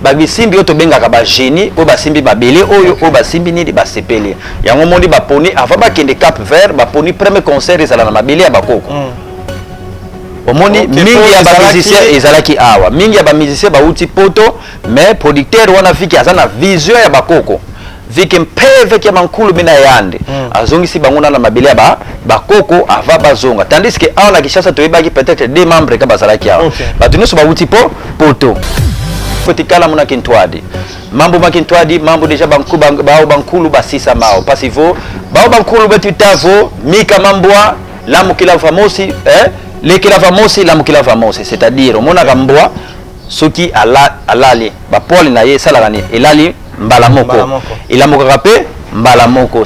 babisimbi oyo tobengaka bagenie oyo basimbi mabele oyo oyo basimbi nini basepeli yango moni baponi avant bakende cap vert baponi premier concert ezala na mabele ya bakoko mm. omoni mingi ya bamusicien ezalaki awa mingi ya bamusicien bauti poto mais producteur wana fiki aza na vision ya bakoko Vike mpeve kia mankulu mina yande mm. azongisi bango na mabele ya ba bakoko ava bazonga tandis que awa na Kinshasa toyebaki peut-être deux membres ka bazalaki awa okay. bato nyonso bawuti po poto kotikala muna kintwadi mambo ma kintwadi mambo deja banku, ban, bao bankulu basisa mao pasi vo bao bankulu betu tavo mika mambwa lamukila vamosi eh? lekela vamosi lamukila vamosi c'est-à-dire omonaka mbwa soki alali ala bapole na ye esalaka nini elali mbala moko elamukaka mpe mbala moko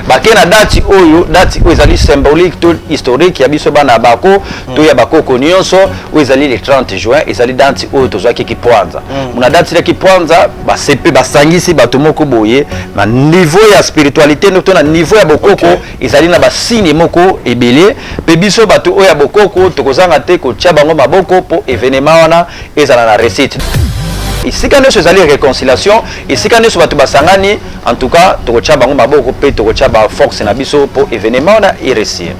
bake na dati oyo dati oyo ezali symbolique to historique ya biso bana ya bako mm. to ya bakoko nyonso oyo ezali le 30 juin ezali dati oyo tozwaki kipwanza mm. mona dati ya kipwanza basepe basangisi bato moko boye na niveau ya spiritualité to na niveau ya bokoko okay. ezali na basigne moko ebele mpe biso bato oyo ya bokoko tokozanga te kotya bango maboko mpo evenema wana ezala na recite esika nyonso ezali reconciliation esika nyonso bato basangani en tout cas tokotya bango maboko mpe tokotya ba force na biso mpo evenement wana eresir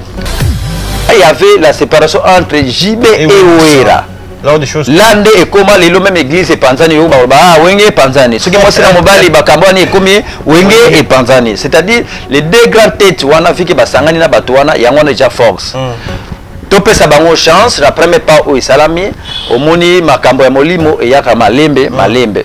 il y avait la séparation entre JB et, et Oera la nde ekoma lelo meme église epanzani yo baloba ah wenge epanzani soki mwasi na mobali bakambo wana ekomi wenge epanzani c'est-à-dire les deux grandes têtes wana vike basangani na bato wana yango wana eja force mm. Topesa bango chance na premier pas oyo esalami, omoni makambo ya molimo eyaka malembe ah. malembe.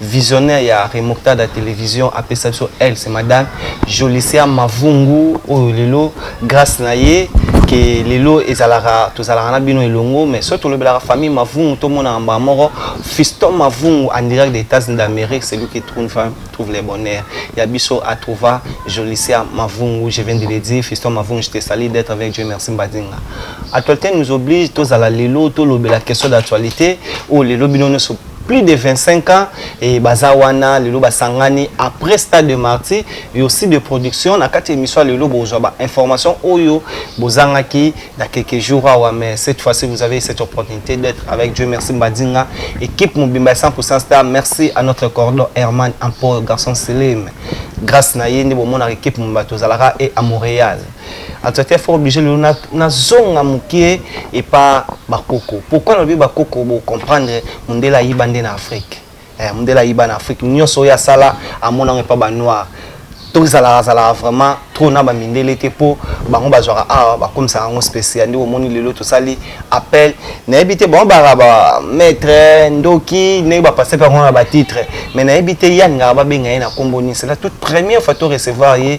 Visionnaire ya Remoctada Television apesa biso elle c'est madame Jolicia Mavungu oyo lelo grâce na ye que lelo ezalaka tozalaka na bino elongo mais soki tolobelaka famille Mavungu tomonaka mbala moko Fiston Mavungu en direct des États-Unis d'Amérique celui qui trouve une femme trouve le bonheur ya biso à trouva Jolicia Mavungu je viens de le dire Fiston Mavungu je te salue d'être avec Dieu merci Mbadinga actualité nous oblige tozala lelo tolobela question d'actualité oyo lelo bino nyonso plus de 25 ans et baza wana lelo basangani après stade de martyr et aussi de production na kati émission lelo bozwa ba information oyo bozangaki na quelques jours awa mais cette fois-ci vous avez cette opportunité d'être avec Dieu merci Mbadinga équipe mobimba 100% star merci à notre cordon Herman Ampo garçon Selim grâce na ye nde bomonaka équipe mobimba tozalaka et à Montréal En tout cas, fort obligé le na na zonga mukie et pas bakoko. Pourquoi le bakoko vous comprendre mundela yiba nde na Afrique. Eh, mundela yiba na Afrique. Nyon soya sala à mon ange pas ba noir. To zala zala vraiment trop na ba mindele te po bango ba zora ah ba comme ça en spécial ndio moni lelo to sali appel na ebite bon ba ba maître ndoki ne ba passer par on ba titre mais na ebite yanga ba benga na kombo ni c'est la toute première fois to recevoir ye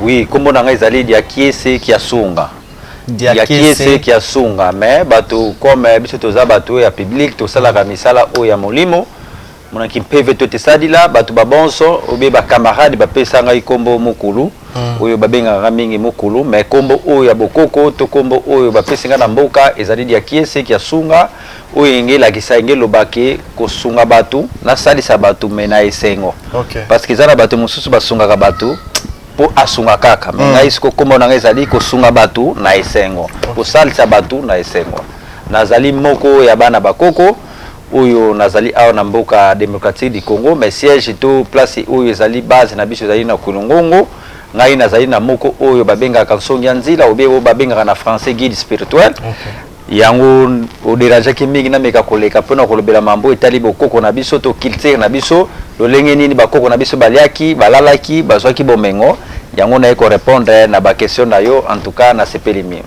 Oui, kombo na ngai ezali Diakiese Kiasunga. Diakiese Kiasunga, mais bato comme eh, biso toza bato ya public tosalaka misala oyo ya molimo mona kimpeve to tesalila bato babonso obe bacamarade bapesa ngai kombo mokulu hmm. oyo babengaka ngai mingi mokulu mais kombo oyo ya bokoko to kombo oyo bapesi ngai na mboka ezali Diakiese Kiasunga oyo enge elakisa enge eloba ke kosunga bato nasalisa bato me na esengo okay. parce que eza na bato mosusu basungaka bato mpo asunga kaka me mm. ngai siko nkombo na ngai ezali kosunga bato na esengo kosalisa bato na esengo nazali moko ya bana bakoko oyo nazali awa na mboka démocratique du congo mais siège to place oyo ezali base na biso ezali na kulungongo ngai nazali na moko oyo babengaka nsongi ya nzila obe oyo babengaka na français guide spirituel okay. Yango o derangeaki mingi na meka koleka pona kolobela mambo etali bokoko na biso to culture na biso, lolenge nini ba koko na biso baliaki, balalaki, bazuaki bomengo, yango naye ko repondre na ba question na yo en tout cas na sepeli mingi.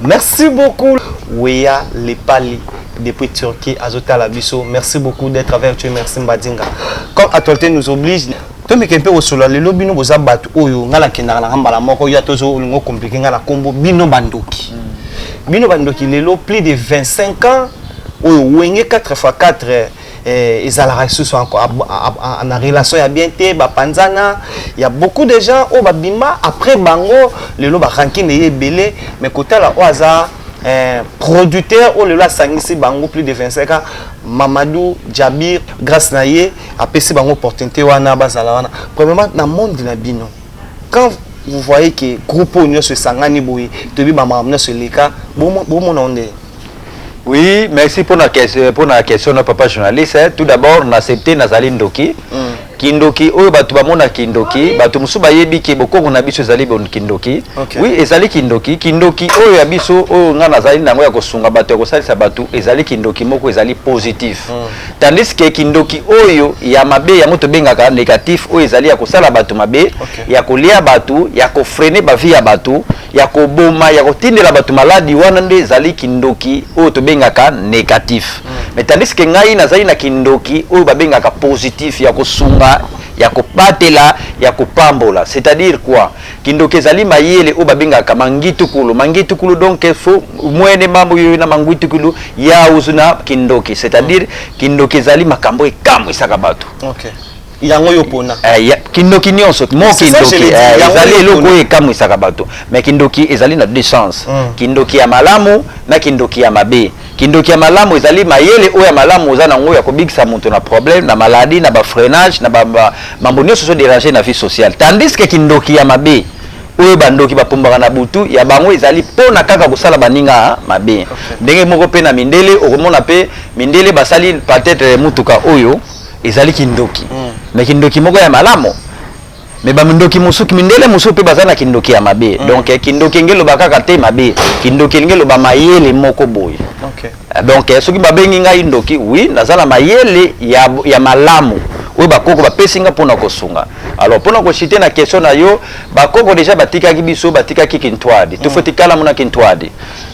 Merci beaucoup weya lepali depuis Turquie azo tala biso merci beaucoup d'etre avec tu merci mbadinga comme actualite nous oblige. tomeke mpe kosolola lelo bino boza bato oyo ngai nakendaka nanga mbala moko yo ata ozo olingo komplike ngai na nkombo bino bandoki mm. bino bandoki lelo plus de 25 ans oyo wenge 4 fois 4 eh, ezalaka lisusu na relation ya bien te bapanzana ya beaucoup de gens oyo babima après bango lelo barankine ye ebele mais kotala oyo aza eh, producteur oyo lelo asangisi bango plus de 25 ans mamadou jabir grâce na ye apesi bango opportunité wana bazala wana premièrement na monde na bino quand vous voyez que groupe oyo nyonso esangani boye toyebi bamakambo nyonso eleka bomona onde oui merci mpona mpona question na papa journaliste eh. tout d'abord na accepte nazali ndoki mm. kindoki oyo bato bamona kindoki bato mosusu bayebi ke bokongo na biso ezali kindoki okay. oui ezali kindoki kindoki oyo ya biso oyo ngai nazali nango ya kosunga bato ya kosalisa bato ezali kindoki moko ezali positif mm. Tandis que kindoki oyo ya mabe yango tobengaka negatif oyo ezali ya kosala bato mabe okay. ya kolia bato ya kofrene bavi ya bato ya koboma ya kotindela bato maladi wana nde ezali kindoki oyo tobengaka negatif mm. mais tandis que ngai nazali na kindoki oyo babengaka positif ya kosunga ya kobatela ya kopambola c'est-à-dire quoi Kindoki ezali mayele oyo babengaka mangitukulu. Mangitukulu donc fo mwene mambo yoyo na mangitukulu ya uzu na kindoki. C'est-à-dire kindoki ezali makambo ekamwisaka bato. Okay. Yango yo pona. Eh, ya, kindoki nyonso mo kindoki eh, ezali eloko oyo ekamwisaka bato. Mais kindoki ezali na deux sens. Mm. Kindoki ya malamu na kindoki ya mabe. Kindoki ya malamu ezali mayele oyo ya malamu oza na ngo ya kobikisa moto na problème, na maladie, na ba freinage, na ba mambo nionso ezo deranger na vie sociale. Tandis que kindoki ya mabe oyo ba ndoki ba pombaka na butu ya bango ezali pona kaka kosala baninga mabe. Ndenge moko pe na mindele okomona pe mindele basali peut-etre mutuka oyo ezali kindoki mais kindoki moko ya malamu. me bamindoki mosuki mindele mosusu mpe baza na kindoki ya mabe mm. donc eh, kindoki enge eloba kaka te mabe kindoki elingi eloba mayele moko boye okay. Eh, donc eh, soki babengi ngai ndoki wi naza na mayele ya, ya malamu oyo bakoko bapesi nga mpona kosunga alors mpona kosite na question na yo bakoko deja batikaki biso batikaki kintwadi mm. tofo tikalamu na kintwadi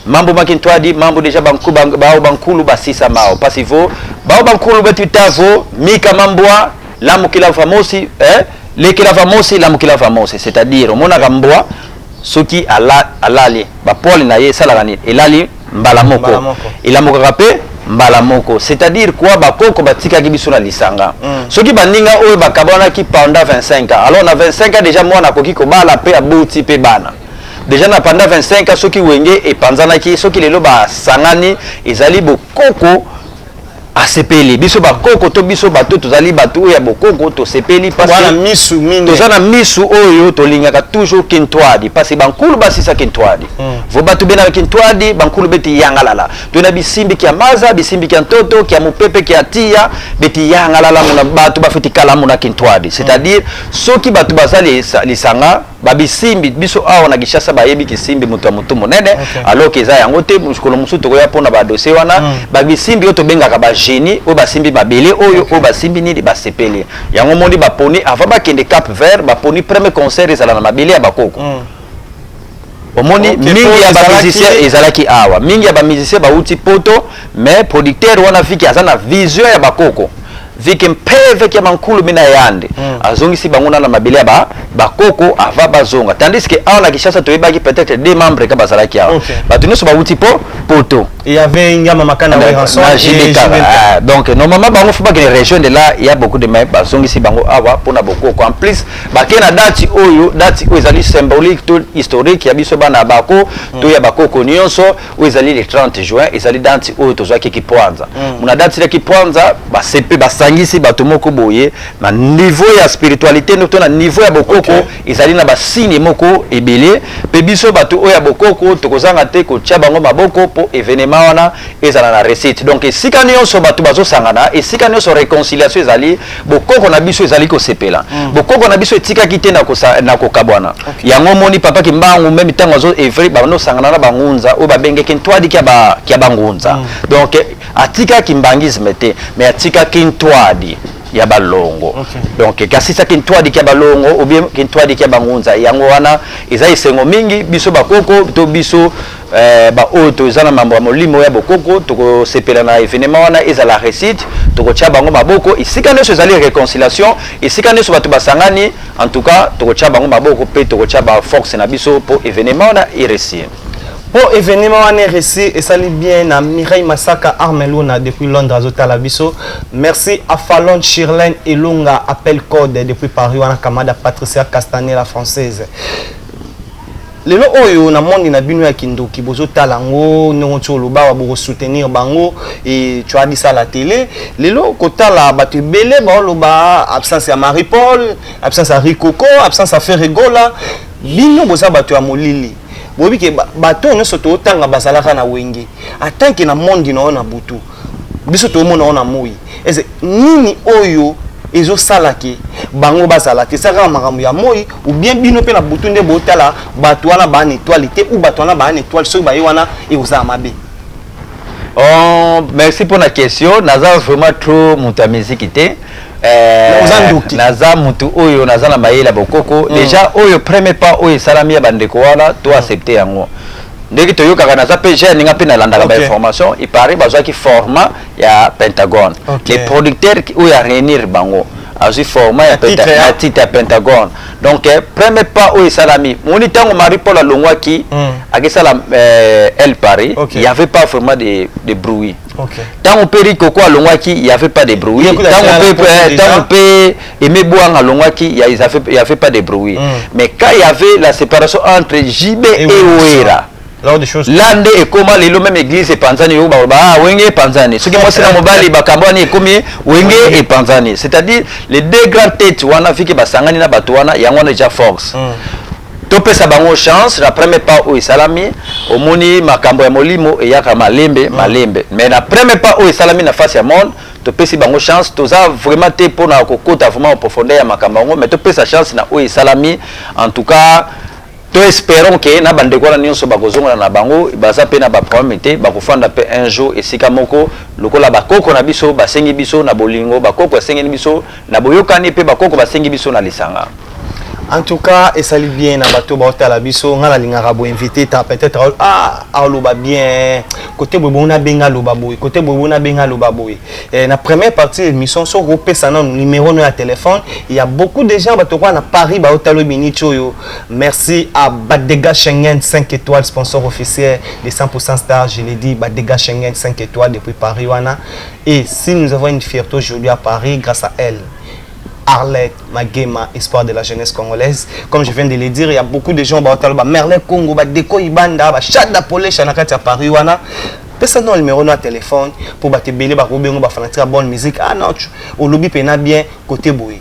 mambo ma kintwadi mambo deja bao bankulu basisa mao pasivo bao bankulu betitavo mika mambwa lamukila famosi eh? lekela famosi lamukila famosi c'est à dire omonaka mbwa soki ala, alali bapole na ye esalaka nini elali mbala moko, mbala moko. elamukaka mpe mbala moko c'est à dire quoi bakoko batikaki biso na lisanga mm. soki baninga oyo bakabanaki pendant 25 ans alors na 25 ans déjà mwana akoki kobala mpe aboti mpe bana deja na panda 25 ans soki wenge epanzanaki soki lelo basangani ezali bokoko asepeli biso bakoko to biso bato tozali bato oyo ya bokoko tosepeli toza na misu oyo tolingaka toujours kintwadi mpasi bankulu basisa kintwadi hmm. vo bato benaka kintwadi bankulu beti yangalala to na bisimbi kia maza bisimbi kia ntoto kia mopepe kia tiya beti yangalala mona bato bafeti kalamu na kintwadi c'est-à-dire soki bato baza lisanga babisimbi biso awa na Kinshasa bayebi kisimbi moto ya motu monene okay. alors que eza yango te mokolo mosusu tokoya mpona badose wana mm. babisimbi oyo tobengaka bagenie oyo basimbi mabele oyo okay. oyo basimbi nini basepeli yango moni baponi avant bakende cap vert baponi premier concert ezala na mabele ya bakoko mm. omoni okay, mingi ya bamusicien ezalaki awa mingi ya bamusicien bauti poto mais producteur wana fiki aza na vision ya bakoko Vike mpeve kia mankulu mina yande mm. azongisi bango na na mabele ya ba bakoko ava bazonga tandis que awa na Kinshasa toyebaki peut-être deux membres ka bazalaki awa okay. bato nyonso bawuti po poto il y avait Ngama Makana na, Weranson na JDK ah, donc normalement bango faut bakende rejoindre là il y a beaucoup de mais bazongisi bango awa mpo na bokoko en plus bakei na dati oyo dati oyo ezali symbolique to historique ya biso bana bako mm. to ya bakoko nyonso oyo ezali le 30 juin ezali danti oyo tozwaki kipwanza mm. na danti ya kipwanza basepe basangisi bato moko boye na niveau ya spiritualité no to na niveau ya bokoko okay. ezali na basigne moko ebele mpe biso bato oyo ya bokoko tokozanga te kotya bango maboko mpo evenema wana ezala na recite donc esika nyonso bato bazosangana esika nyonso réconciliation ezali bokoko na biso ezali kosepela mm. bokoko na biso etikaki te na kokabwana okay. yango omoni papa kimbangu meme ntango azo evre bando osangana na bangunza oyo babengeki ntwadi kya bangunza mm. donc atika kimbangisme te mais atikaki ntwadi ya balongo okay. donc kasi sa kintwadi kya balongo ou bien kintwadi kya bangunza yango wana eza esengo mingi biso bakoko to biso Eh, ba oyo toza na mambo ya molimo ya bokoko tokosepela na evenema wana ezala recite tokotya bango maboko esika nyonso ezali reconciliation esika nyonso bato basangani en tout cas tokotya bango maboko mpe tokotya baforce na biso mpo evenema wana eresie mpo evenema wana eresi esali bien na mireille masaka armeluna depuis londres azotala biso merci à falon shirlene elonga appel code depuis paris wana kamada patricia castanet la française lelo oyo na monde na bino ya kindoki bozotala yango ndenge nti olobawa bokosoutenir bango e tu as dit ça la tele lelo kotala bato ebele baoloba absence ya marie paul absence ya ricoco absence ya ferregola bino boza bato ya molili boyebi ke bato oyo nyonso tootanga bazalaka na wenge atanke na monde na oyo na butu biso toomona yango na moi ese nini oyo ezosala ke bango bazala te esala kaka makambo ya moi oubien bino mpe na butu nde botala bato wana baa na etoile te ou bato wana baa na etoile soki baye wana ekozala mabe Oh, merci mpo na question naza vraiment trop moto ya miziki te eh, oza ndoki naza motu oyo naza na mayele ya bokoko mm. déjà oyo premier pas oyo esalami ya bandeko wana to accepte yango ndenge toyokaka naza pe jeune nga pe nalandaka okay. ba information il paraît bazwaki format ya pentagone okay. les producteurs oyo ya réunir bango azwi format ya hein. titre ya pentagone donc eh, premier pas oyo esalami moni ntango marie paul alongwaki hmm. akesala eh, el paris okay. il y avait pas vraiment de, de bruit Okay. Tango pe Rico ko alongwaki, il y avait pas de bruit. Tango pe eh, tango pe Aimé Boang alongwaki, il y avait il y avait pas de bruit. Mm. Mais quand il y avait la séparation entre JB et, et Oera. Là nde ekoma lelo même église epanzani yo ba ah wenge epanzani soki mwasi na mobali bakambo wana ekomi wenge epanzani c'est-à-dire les deux grandes têtes wana fiki basangani na bato wana yango wana eja force mm. Topesa bango chance na premier pas oyo esalami, omoni makambo ya molimo eyaka malembe mm. malembe, mais na premier pas oyo esalami na face ya monde topesi bango chance, toza vraiment te pona kokota vraiment en profondeur ya makambo yango, mais topesa chance na oyo esalami en tout cas to espérons que na bandeko wana nyonso bakozongana na bango baza mpe na baproblème te bakofanda mpe un jour esika moko lokola bakoko na biso basengi biso na bolingo bakoko asengeli biso Na boyokani pe bakoko basengi biso na lisanga. En tout cas, et salut bien na bateau ba hôtel abisso, nga na lingaka bo invité ta peut-être ah ah loba bien côté bo bona benga loba boy, côté bo bona benga loba boy. Et na première partie émission so ko pesa na numéro no ya téléphone, il y a beaucoup de gens bato kwa na Paris ba hôtel bini choyo. Merci à Badega Schengen 5 étoiles sponsor officiel de 100% star, je l'ai dit Badega Schengen 5 étoiles depuis Paris wana. Et si nous avons une fierté aujourd'hui à Paris grâce à elle, Arlette Magema, espoir de la jeunesse congolaise. Comme je viens de le dire, il y a beaucoup de gens, bah, bah, Merle Congo, bah, Deko Ibanda, bah, Chada Polé, Chanakati à Paris, wana. pesa no numéro na téléphone mpo bato ebele bakobengo bafanatike ya bonne musique ah non olobi mpena bien kote boye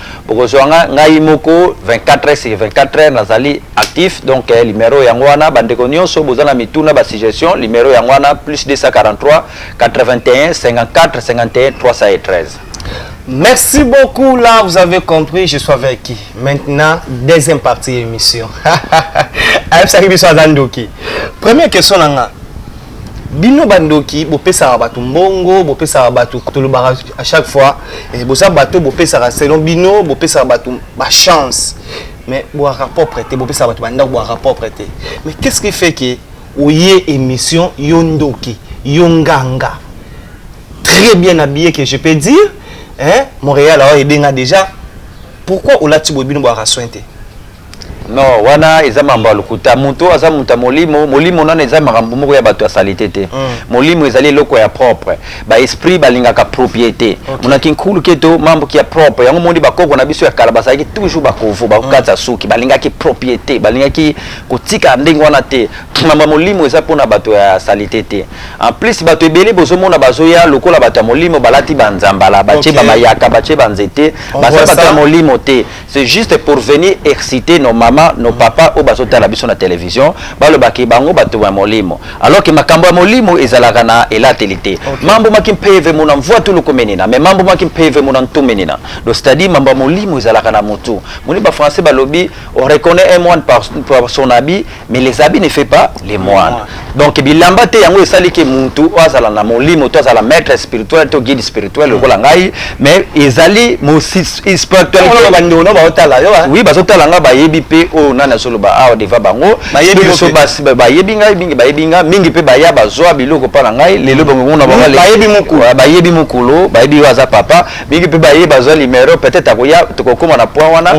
Bokozwa nga, ngai moko 24 heures sur 24 heures nazali actif donc eh, numero yango wana bandeko nyonso boza na mituna ba suggestion numero yango wana plus 243 81 54 51 313 Merci beaucoup. Là, vous avez compris, je suis avec qui. Maintenant, deuxième partie de l'émission. Première question, bino bandoki bopesaka bato mbongo bopesaka bato tolobaka à chaque fois eh, boza bato bopesaka selon bino bopesaka bato bachance mais boyaka propre te bopesaka bato bandako boyaka propre te mais qu'est ce qui fait que oye émission yo ndoki yo nganga très bien habillé que je peux dire hein, montréal awa edenga déjà pourquoi olati boye bino boyaka soin te Non wana eza mambo ya lokuta mutu oyo aza mutu ya molimo molimo nanu eza makambo moko ya batu ya salite te mm. molimo ezali eloko ya propre ba esprit balingaka propriete okay. monaki nkulu keto mambo kia propre yango moni bakoko na biso ya kala bazalaki toujours bakovo bakokatisa mm. suki balingaki propriete balingaki kotika ndenge wana te mambo ya molimo eza mpona bato ya salite te en plus bato ebele bozomona bazoya lokola bato ya molimo balati banzambala batie okay. babayaka batie banzete baza bato ya molimo te C'est juste pour venir exciter nos mamans, nos mm. papas au bazo tala biso na télévision, balo baki bango batu ya molimo. Alors que makambo ya molimo ezalaka na elateli te. Okay. Mambo maki mpeve mona mvua tulu komenina, mais mambo maki mpeve mona ntumenina. Donc c'est-à-dire mambo ya molimo ezalaka na mutu. Moni ba français balobi on reconnaît un moine par, par son habit mais les habits ne fait pas les moines donc bilamba te yango esali ke muntu oyo azala na molimo to azala maître spirituel to guide spirituel lokola mm. ngai mais ezali spiritualitéwi bazotala ngai bayebi mpe oyo nani azoloba awa deva bango bayebi ngai mingi bayebi ngai mingi mpe baya bazwa biloko mpa na ngai lelo bangokuna bangobayebi mokolo bayebi oyo aza papa mingi mpe baye bazwa limero peut-être akoya tokokoma na point wana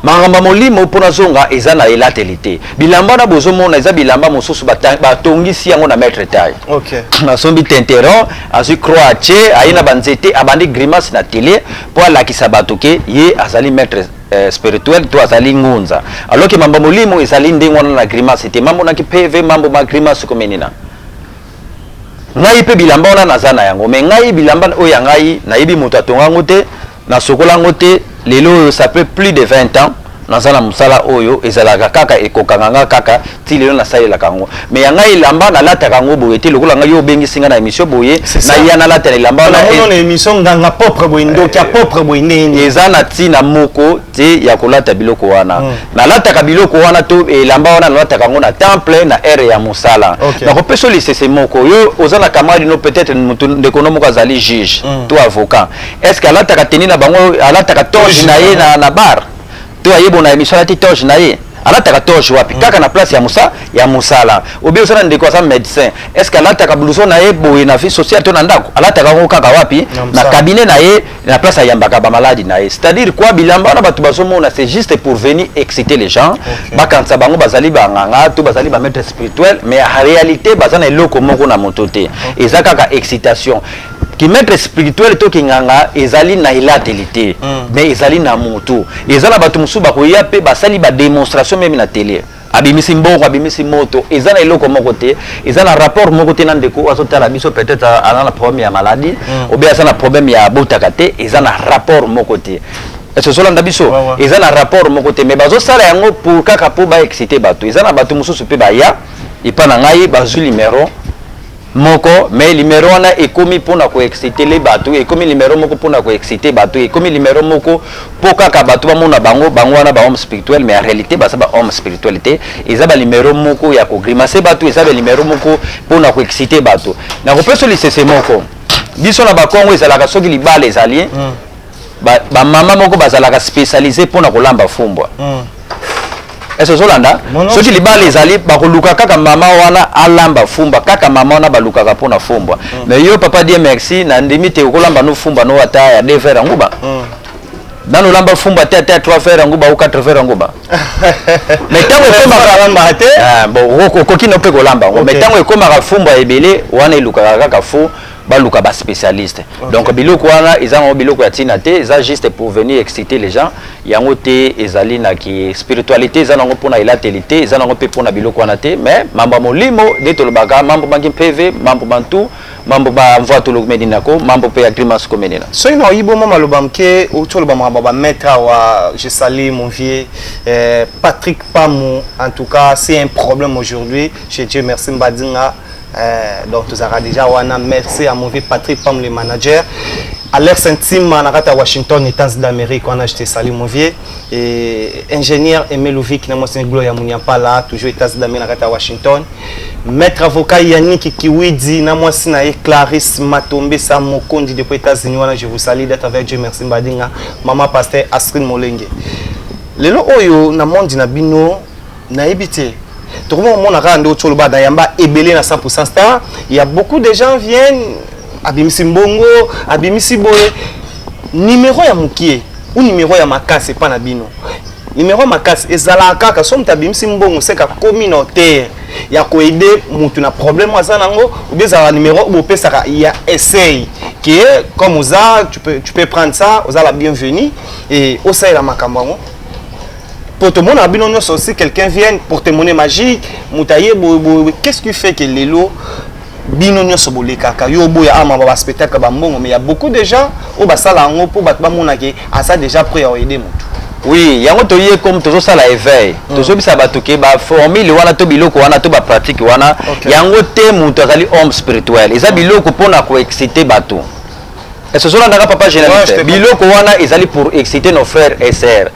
Makambo ya molimo mpo nazonga eza na elateli te. Bilamba wana bozomona eza bilamba mosusu batongisi yango na maitre taille. Okay. Asombi tinteron, azwi croix atie, aye na banzete, abandi grimace na tele mpo alakisa bato ke ye azali maitre eh, spirituel to azali ngunza. Alors ke mambo molimo ezali ndenge wana na grimace te. Mambo na ki PV, mambo ma grimace komenina. Ngai mpe bilamba wana naza na yango, mais ngai bilamba oyo ya ngai nayebi moto atonga yango te. Na sokola yango te lelo oyo ça peut plus de 20 ans naza na musala oyo ezalaka kaka ekokanga nga kaka ti lelo na salelaka yango mais ya ngai elamba na lataka yango boye te lokola ngai yo obengisi nga na emission boye na ya na lata na elamba wana na mona emission nganga propre boye ndoki ya propre boye nde eza na tina moko te ya kolata biloko wana mm. na lataka biloko wana to elamba wana na lataka yango na temple na ere ya musala okay. na kopesa lisese moko yo oza na camarade no peut-être mutu ndeko no moko azali juge mm. to avocat Est-ce que alataka tenue na bango alataka toge na ye na, na bar to ayebo na emission alati toge na ye alataka toge wapi mm. kaka na place ya musa ya musala obi oza na ndeko aza médecin est-ce que alataka blouson na ye boye na vie sociale to na ndako alataka yango kaka wapi na cabinet na ye na place ayambaka bamaladi na ye c'est-à-dire quoi bilamba wana bato bazomona c'est juste pour venir exciter les gens okay. bakanisa bango bazali banganga to bazali bamaître spirituel mais en réalité baza na eloko moko na moto te okay. eza kaka excitation ki maître spirituel to kinganga ezali na elateli te mm. mais ezali na motu eza na bato mosusu bakoya mpe basali bademonstration meme na tele abimisi mbongo abimisi moto eza na eloko moko te eza na rapport moko te na ndeko azotala biso peut-être aza na problème ya maladie mm. obe aza na problème ya botaka te eza na rapport moko te ezolanda biso eza na rapport moko te mais bazosala yango pour kaka mpo baexcite bato eza na bato mosusu mpe baya epa na ngai bazwi numero moko mais numero wana ekomi pona ko excitele batu ekomi numero moko pona ko excite batu ekomi numero moko po kaka batu bamona bango bango wana ba homme spirituel mais en realite baza ba homme spirituel te eza ba numero moko ya ko grimace batu eza ba numero moko pona ko excite batu nakopesa lisese moko biso na bakongo ezalaka soki libala ezali mm. ba, ba mama moko bazalaka specialise mpo na kolamba fumbwa mm. ese ozolanda soki libala ezali bakoluka kaka mama wana alamba fumba kaka mama wana balukaka mpo na fumbwa mm. mais yo papa die merci na ndimi te okolamba no fumba no ata ya de verre yango ba mm. nanu olamba fumba te ata ya trois verre yango ba o quatre verre yango ba mais ntango ekomaka te ah, okoki no mpe kolamba yango mais ntango ekomaka fumba ebele wana elukaka kaka fo baluka ba spécialiste okay. donc biloko wana eza ngo biloko ya tina te eza juste pour venir exciter les gens yango te ezali na ki spiritualité eza nango pona elateli te eza nango pe pona biloko wana te mais mambo molimo nde tolobaka mambo mangi mpeve mambo mantu mambo ba mvua tolomeni nako mambo pe ya grimace komeni na soki na oyibo mwa maloba mke outi oloba makambo ba maître awa je sali mon vieux eh, patrick pamu en tout cas c'est un problème aujourd'hui chez dieu merci mbadinga Eh, donc tozalaka déjà wana merci à mauvais patrick pam le manager alex ntima na kati ya washington etats d'amérique wana je te sali movie et ingénieur aimé louvik na mwasi glo ya muniampala toujours etats d'amérique na kati ya washington maître avocat yannick kiwidi na mwasi na ye clarisse matombe sa mokondi depuis états-unis wana je vous salue d'être avec dieu merci mbadinga mama pasteur astrid molenge lelo oyo na monde na bino nayebi te tokomi komona kaka nde otyo oloba na yamba ebele na 100 star ya beaucoup de gens viennent abimisi mbongo abimisi boye nimero ya mokie ou nimero ya makasi epa na bino nimero ya makasi ezalaka kaka so moto abimisi mbongo seka communautaire ya koede motu na problème aza nango obi ezalaka numero bopesaka ya essai ke comme oza tu peux, tu peux prendre ça oza la bienvenue e osalela makambo yango po tomonaka bino nyonso si quelqu'un vienne pour témoigner magique moto aye boye boye qu'est ce qui fait que lelo bino nyonso bolekaka yo oboya ama ba spectacle bambongo mais ya beaucoup de gens oyo basala yango mpo bato bamonake aza déjà prêt ya oede motu oui yango toye comme tozosala éveil mm. tozobisa bato ke baformule wana to biloko wana to bapratique wana okay. yango te moto azali homme spirituel eza mm. biloko mpo na koexcite bato Est-ce que olandaka papa journaliste ouais, biloko wana ezali pour exciter nos frères et sœurs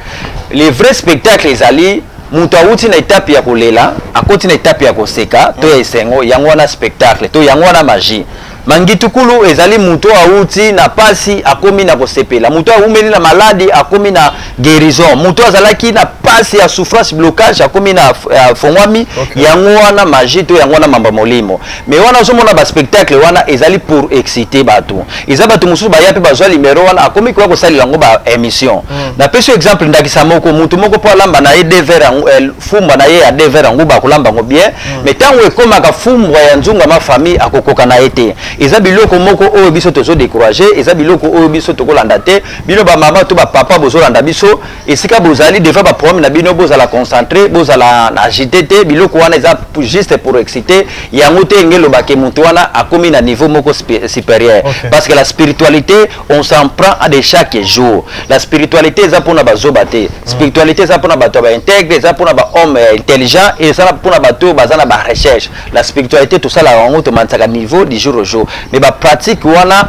les vrais spectacles ezali moto awuti na etape ya kolela akoti na etape ya koseka to ya esengo yango wana spectacle to yango wana magie mangitukulu ezali moto awuti na pasi akomi na kosepela moto awumeli na maladi akomi na guérison mutu azalaki na pasi ya souffrance blocage akomi na euh, fongwami okay. yango wana magie to yango wana mamba molimo mais wana ozomona ba spectacle wana ezali pour exciter bato eza bato mosusu baya mpe bazwa limero wana akomi koya kosalela yango ba émission mm. napesi exemple ndakisa moko mutu moko mpo alamba na ye dever euh, fumba na ye ya dever yango bakolamba yango bien mm. mais ntango ekomaka fumbwa ya nzunga ma famille akokoka na ye te eza biloko moko oyo biso tozo décourage eza biloko oyo biso tokolanda te Bino ba mama to ba papa bozolanda biso esika bozali devant ba programme na bino bozala concentre bozala na agite te biloko wana eza juste pour exciter yango te enge eloba ke moto wana akomi na niveau moko supérieur okay. parce que la spiritualité on s'en prend à de chaque jour la spiritualité eza mpona bazoba te mm. spiritualité eza mpona bato ya baintegre eza mpona bahomme euh, intelligent eza mpona bato oyo baza na barecherche la spiritualité tosalaka yango tomanisaka niveau du jour au jour mais bapratique wana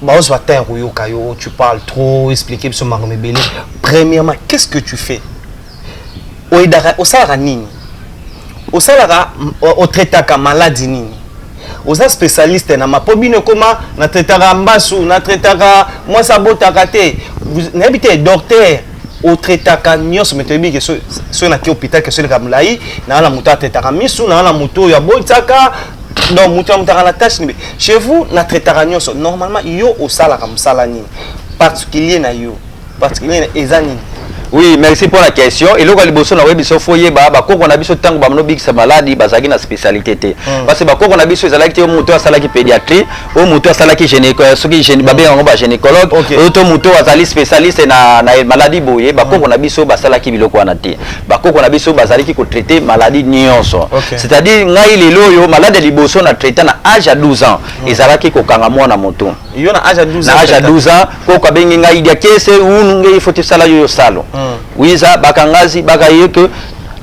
bazwa temps ya koyoka yo tu parle trop explique biso makambo ebele premièrement qu'est ce que tu fais oyedaka osalaka nini osalaka otraitaka maladi nini oza spécialiste na ma mpo bino ekoma na traitaka mbasu na traitaka mwasi abotaka te nayebi te docteur otraitaka nyonso me toyebi ke soki nake hôpital ke soleka molai naa na moto atraitaka misu naa na moto oyo aboitaka donc moto ya motaka na tâche nibe chez vous na traitaka nyonso normalement yo osalaka mosala nini particulier na yo particulier na eza nini oui merci mpo na question eloko ya liboso nakoyebi biso fo yeba bakoko na biso ntango bamino bikisa maladi bazalaki na spécialité te hmm. parce que bakoko na biso ezalaki te moto asalaki pédiatrie oyo moto asalaki soki babengaka yango bagynécologue oyo to moto oyo azali spécialiste na, na maladie boye bakoko mm. na biso basalaki biloko wana te bakoko na biso bazalaki kotraite maladie nyonso okay. c'est-à-dire ngai lelo oyo malade ya liboso na traita na age ya 12 ans mm. ezalaki kokanga mwana moto yo na age ya 12 ans na age ya 12 ans koko abengi ngai diakese unu ngai ifo tosala yo yo salo mm. wiza bakangazi bakaye ke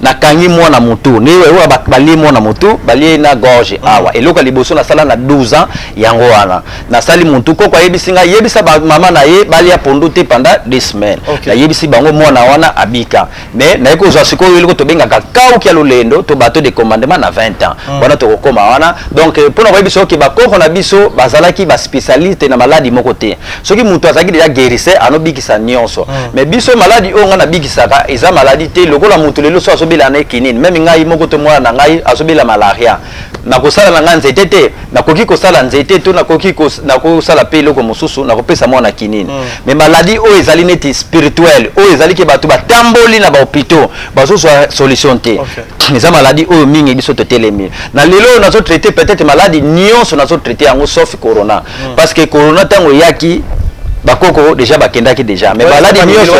nakangi mwana motu nde oyo balie mwana motu balie na gorge ah. awa eloko ya liboso nasala na 12 ans yango wana nasali motu koko ayebisi ngai yebisa bamama na ye balia pondu te pendant des semaines okay. nayebisi bango mwana wana abika mais naye kozwa sikoyo eloko tobengaka kauki ya lolendo to bato de commandement na 20 ans mm. wana tokokoma wana donc euh, mpo na koyebisa oke bakoko na biso bazalaki baspecialiste na maladi moko te soki mutu azalaki deja guérisseur ano bikisa nionso mm. mais biso maladi oyo ngai nabikisaka eza maladi te lokola mutu lelo so azobela na ekinini meme ngai moko to mwana na ngai azobela malaria nakosala na ngai nzete te nakoki kosala nzete to nakoki nakosala mpe eloko mosusu nakopesa mwana kinini mm. mais maladi oyo ezali neti spirituel oyo ezali ke bato batamboli na bahopitaux bazozwa solution te okay. eza maladi oyo mingi biso totelemi na lelo oyo nazotraite peut-être maladi nyonso nazotraite yango sauf corona mm. parce que corona tango yaki bakoko deja bakendaki deja mais baladi nyonso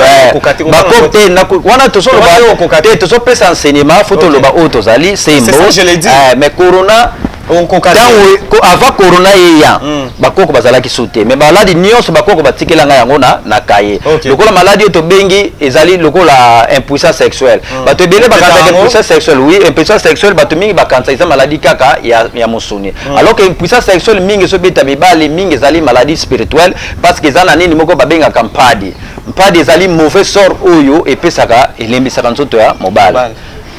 bakoko te wana tozolobate tozopesa enseignement fo toloba oyo tozali sembo eh, mais corona ntango avant corona eya hmm. bakoko bazalaki su te mais maladi nyonso bakoko batikela ngai yango na, na kaye okay. lokola maladi oyo tobengi ezali lokola impuissance sexuelle hmm. bato ebele bakanisaka impuissance sexuelle oui impuissance sexuelle bato mingi bakanisaka eza maladi kaka ya, ya mosuni ah. alors que impuissance sexuelle mingi ezobeta mibali mingi ezali maladie spirituelle parce que eza na nini moko babengaka mpadi mpadi ezali mauvais sort oyo epesaka elembisaka nzoto ya mobali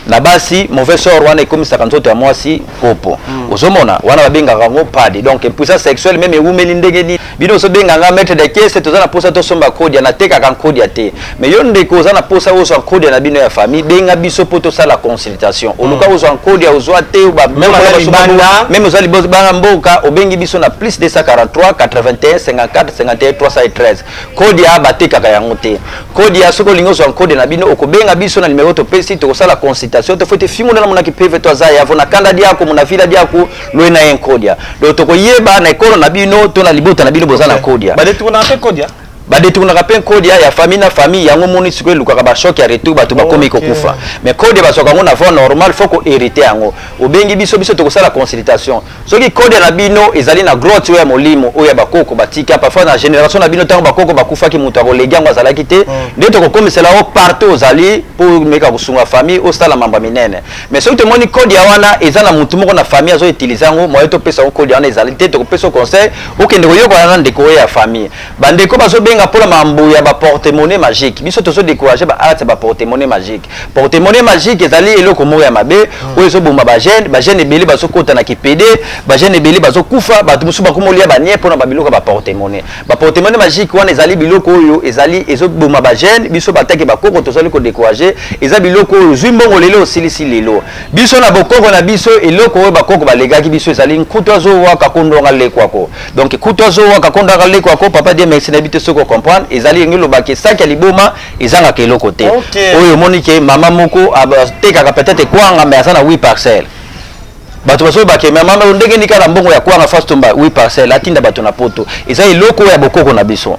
na basi mauvais sort wana ekomisaka nzoto ya mwasi kopo hmm. ozomona wana babengaka yango mpadi donc impuissance sexuelle meme ewumeli ndenge nini bino ozo benga nga maître de caisse toza na posa to somba kodia na teka kan kodia te mais yo ndeko oza na posa ozo an kodia na bino ya famille benga biso po to sala consultation hmm. oluka ozo an kodia ozo te ba même ba libanda même ozo libozo ba mboka obengi biso na plus 243 81 54 51 313 kodia ba teka ka yango te kodia soko lingo ozo an kodia na bino okobenga biso na numero to pesi to sala consultation to fote fingo na mona ki PV to aza ya vona kanda dia ko mona vila dia ko loye na ye nkodia donc tokoyeba na ekolo na bino to na libota na bino boza na nkodia badetournaka mpe nkodia badetournaka mpe nkodia ya famille na famille yango moni sikoyo elukaka bashock ya retour bato bakomi okay. kokufa mais kodia bazwaka yango na voie normal fo koherite yango obengi biso biso tokosala consultation soki kodia na bino ezali na grotte oyo ya molimo oyo ya bakoko batika parfois na génération na bino ntango bakoko bakufaki moto akolegi yango azalaki te hmm. nde tokokomisela yo partout ozali mpo omeka kosunga famille osala mambo minene Mais soki tomoni code ya wana eza na mutu moko na famille azo utiliser yango moyen topesa yango code ya wana ezali te tokopesa conseil okende koyokola na ndeko oyo ya famille bandeko bazobenga mpo na mambo ya baportemone magique biso tozo décourage ba arts ya baportemone magique portemone magique ezali eloko moko ya mabe hmm. oyo ezoboma bagene bagene ebele bazokota na kipede bagene ebele bazokufa bato mosusu bakomolia banie mpo na babiloko ya baportemone Ba portemone magique wana ezali biloko oyo ezali ezoboma ba jeune biso bataki bakoko tozali kodecourage eza biloko oyo ozwi mbongo lelo osilisi lelo biso na bokoko na biso eloko oyo bakoko balegaki biso ezali nkutu azowaka kondwanga lekwako donc kutu azowaka kondwanga lekwako papa die merci nayebi te soki ocomprendre ezali yenge elobaki esaki ya liboma ezangaka eloko te okay. oyo omoni ke mama moko atekaka peut-être ekwanga mais aza na 8 parcelle bato basoki bakemea mama oyo ndenge nika na mbongo ya kwanga fasi tomba wi parcelle atinda bato na poto eza eloko oyo ya bokoko na biso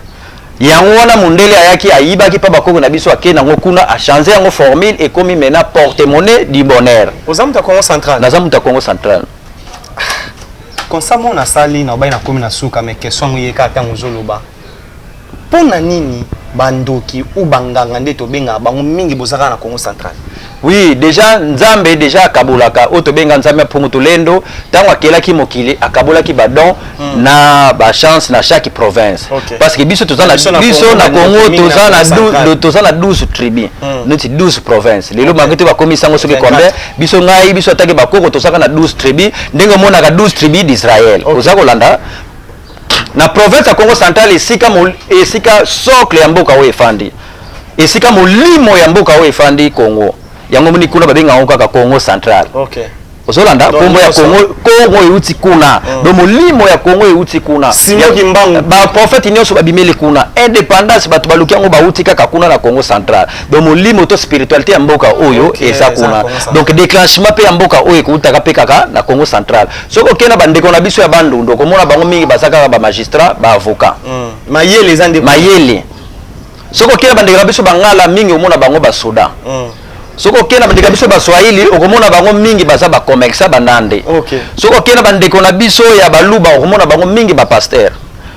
yango wana mondele ayaki ayibaki mpa bakoko na biso akei nango kuna achange yango formule ekomi mena porte monnaie du bonheur oza moto ya congo central naza moto ya congo central konsa mona asali na obai nakomi na suka me question yango eyeka ntango ozoloba Pona nini ba ndoki ou ba nganga nde tobengaka bango mingi boza kaka na Kongo central. Oui dejà nzambe dejà akabolaka oyo tobenga nzambe ya mpungu tulendo tango akelaki mokili akabolaki ba don mm. na ba chance na chaque province okay. parce que biso toza na biso na Congo toza na toza na 12 tribus mm. neti 12 provinces lelo okay. bango te bakomi sango soki combien biso ngai biso atake bakoko tozaka na 12 tribus ndenge omonaka 12 tribus d'Israël okay. oza kolanda Na province ya Kongo central esika, esika socle ya mboka oyo efandi, esika molimo ya mboka oyo efandi Kongo, yango moni kuna babenga yango kaka Kongo central. Okay. ozolanda nkombo ya kongo kongo euti kuna mm. do molimo ya kongo euti kuna baprofete nyonso babimeli kuna indépendance bato baluki yango bauti kaka kuna na congo central do molimo to spiritualité ya mboka oyo eza kuna donc déclenchement mpe ya mboka oyo ekoutaka mpe kaka na congo central soki okei na bandeko na biso ya bandundu okomona bango mingi baza kaka bamagistrat baavocat mm. mayele eza nde mayele soki okei na bandeko na biso bangala mingi omona bango basoda mm. soki okei na bandeko na biso baswahili okomona bango mingi baza bacommersa banande okay. soki okei na bandeko na biso ya baluba okomona bango mingi bapaster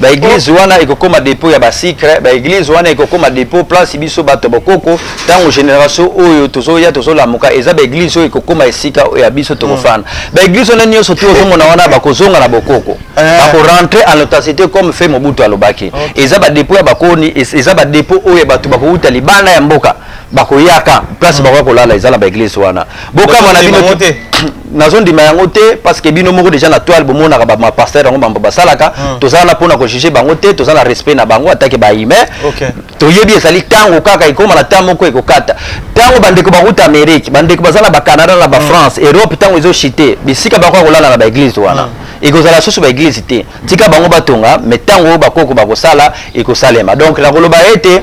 ba eglise wana ekokoma depot ya ba sucre ba eglise wana ekokoma depot place biso bato bokoko ntango generation oyo tozoya tozolamuka eza ba eglise oyo ekokoma esika oyo ya biso tokofana mm. ba eglise wana nyonso tu ozomona wana bakozonga na bokoko eh. bakorentre en authenticité comme fe mobutu alobaki eza ba depot ya bakoni eza ba depot oyo ya bato bakowuta libanda ya mboka bakoyaka place mm. bakoya kolala eza na baeglise wana bokamwa na bino nazondima yango te parce que bino moko déjà na toile bomonaka bapasteur yango bambo basalaka mm. toza wana mpona kojuge bango te toza na respect na bango atake bahumain okay. toyebi ezali ntango kaka ekoma na ntango moko ekokata ntango bandeko bakuta amérique bandeko baza na bacanada na bafrance mm. europe ntango ezoshite bisika bakoya kolala na baeglise wana mm. ekozala susu baeglise te tika bango batonga mai ntango oyo bakoko bakosala ekosalema donc nakoloba ete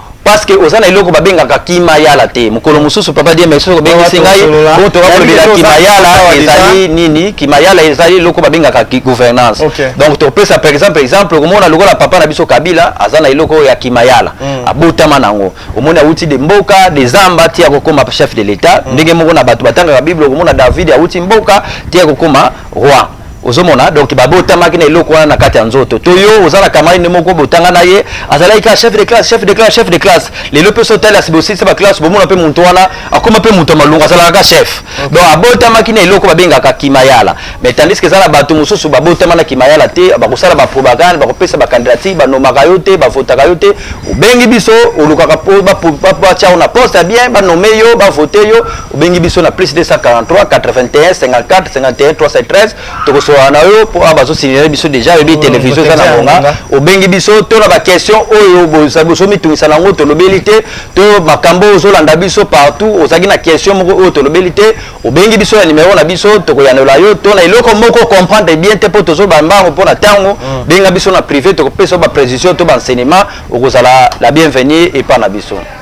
parce que oza na eloko babengaka kimayala te mokolo mosusu papa dieme soki obengisi ngai oyo toka kolobela kimayala ezali nini kimayala ezali eloko babengaka gouvernance donc topesa par exemple exemple okomona lokola papa na biso kabila aza na eloko oyo ya kimayala hmm. abotama na yango omoni awuti de mboka de zamba ti akokoma chef de l'etat hmm. ndenge moko na bato batangaka bible okomona david awuti mboka ti akokoma roi ozomona donc babotamaki na eloko wana na kati ya nzoto to yo oza na kamari nde moko botanga na ye azalaki kaka chef de classe chef de classe chef de classe lelo mpe sotali asi bosilisa baklasse bomona mpe moto wana akoma mpe moto ya malungu azalaka ka chef donc abotamaki na eloko babengaka kimayala mais tandis que eza na bato mosusu babotama na kimayala te bakosala baprobagande bakopesa bacandidature banomaka yo te bavotaka yo te obengi biso olukaka batia yo na poste ya bien banome yo bavote yo obengi biso na plus 243 81 54 51 313 tokosolana na yo mpo awa bazosignale biso deja oyebi oh, televizio eza na ngonga obengi biso to na baquestion oyo bozomitungisa na yango tolobeli te to makambo oyo ozolanda biso partout ozalaki na question moko oyo tolobeli te obengi biso na nimero na biso tokoyanola yo to na eloko moko comprendre bien te mpo tozoloba mbango mpo na ntango hmm. benga biso na privé tokopesa yo baprecision to baenseignement okozala la bienvenue epai na biso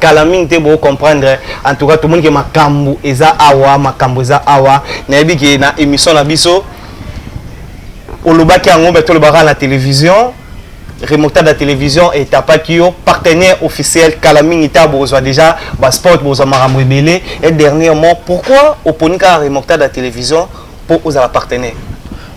kala mingi te bo comprendre en tout cas to moni ke makambu eza awa makambu eza awa na yebi ke na émission na biso olobaki yango mais tolobaka na télévision remontada ya télévision etapaki yo partenaire officiel kala mingi ta bozwa déjà basport bozwa makambo ebele et dernièrement pourquoi oponi kaka remontada ya télévision po ozala partenaire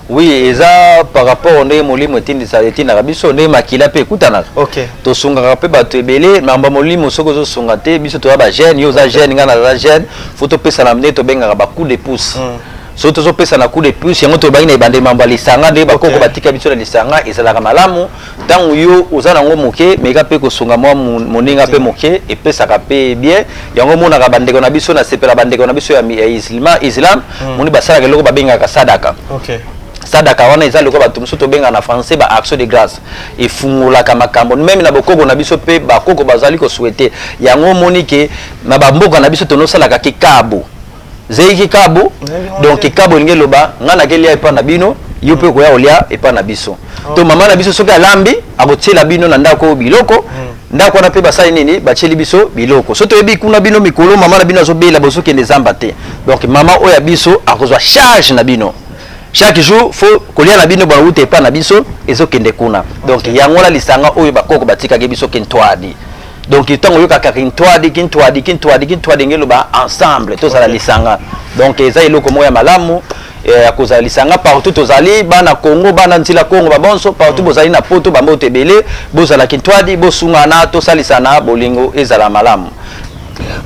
oui eza par rapport ndenge molimo etindisa etindaka biso ndenge makila mpe ekutanaka okay. tosungaka mpe bato ebele mambo ya molimo soki ozosunga te biso toza bagene yo oza gene ngai naza gene fo topesana nde tobengaka bacoup de pouce mm. soki tozopesana coup de plus yango tolobaki na ebandeli mambo ya lisanga nde bakoko batika biso na lisanga ezalaka malamu Tango yo oza na ngo moke meka pe kosunga mwa moninga pe moke epesaka pe bien yango omonaka bandeko na biso na sepela bandeko na biso ya, ya islima islam mm. moni basalaka eloko babengaka sadaka okay. sadaka wana eza lokola bato mosusu tobengaka na français ba action de grâce efungolaka makambo meme na bokoko na biso mpe bakoko bazali koswete yango omoni ke na bamboka na biso tonosalaka kikabo zei kikabo donc kikabo elingi eloba ngai nakelia epa na bino yo mpe okoya kolia epa na biso to mama na biso soki alambi akotiela bino na ndako oyo biloko hmm. ndako wana mpe basali nini batieli biso biloko so toyebi kuna bino mikolo mama na bino azobela bozokende zamba te donc mama oyo ya biso akozwa charge na bino chaque jour fo kolia na bino bauta epa na biso ezokende kuna donc yango wana lisanga oyo bakoko batikaki biso kentwadi donc ntango oyokaka kintwadi kintwadi kintwadi kintwadi nge eloba ensemble tozala lisanga donc eza eloko moko ya malamu eh, ya kozala lisanga partout tozali bana congo bana ntila congo babonso partout mm. bozali na poto bamboto ebele bozala kintwadi bosungana tosalisana bolingo ezala malamu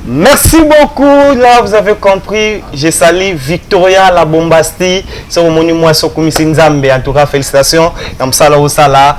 Merci beaucoup. Là, vous avez compris. Je salue Victoria la Bombasti. C'est au monument Sokumisi Nzambe. En tout cas, félicitations. Yamsala Osala.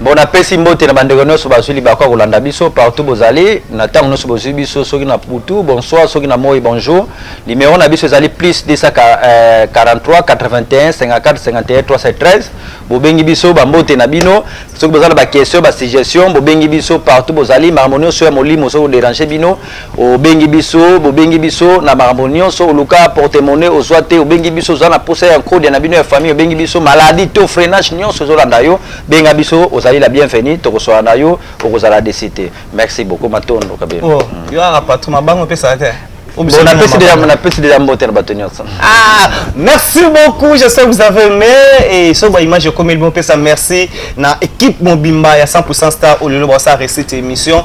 Bon napesi mbote na bandeko nyonso bazwi libaku ya kolanda biso partout bozali na ntango nyonso bozwi biso soki na butu bonsoir soki na moi bonjour limero na biso ezali plus 243 81 54 51 313 bobengi biso bambote na bino soki boza na baquestion basuggestion bobengi biso partout bozali makambo nyonso ya molimo soki oderange bino Obengi biso, bobengi biso na makambo nionso, oluka porte monnaie ozua te, obengi biso oza na posa ya nkodia na bino ya famille, obengi biso, maladie to freinage nionso ezolanda yo, benga biso, ozali la bienvenue, tokosolola na yo, okozala deçu te. Merci beaucoup, matondo kabelo. Oh, hmm. yo kaka patron, mabanga opesaka te? napesi deja mbote na bato nyonso ah, merci beaucoup je sais vous avez aimé et soki baimage ekomeli bopesa merci na équipe mobimba ya 100 star oyo lelo baosa récite émission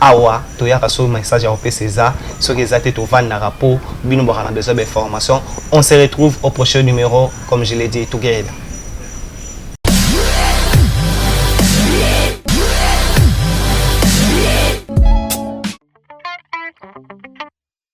Awa toyaka soki message ya kopesa eza soki eza te tovandaka po bino bwaka na besoin ba information on se retrouve au prochain numero comme je l'ai dit together.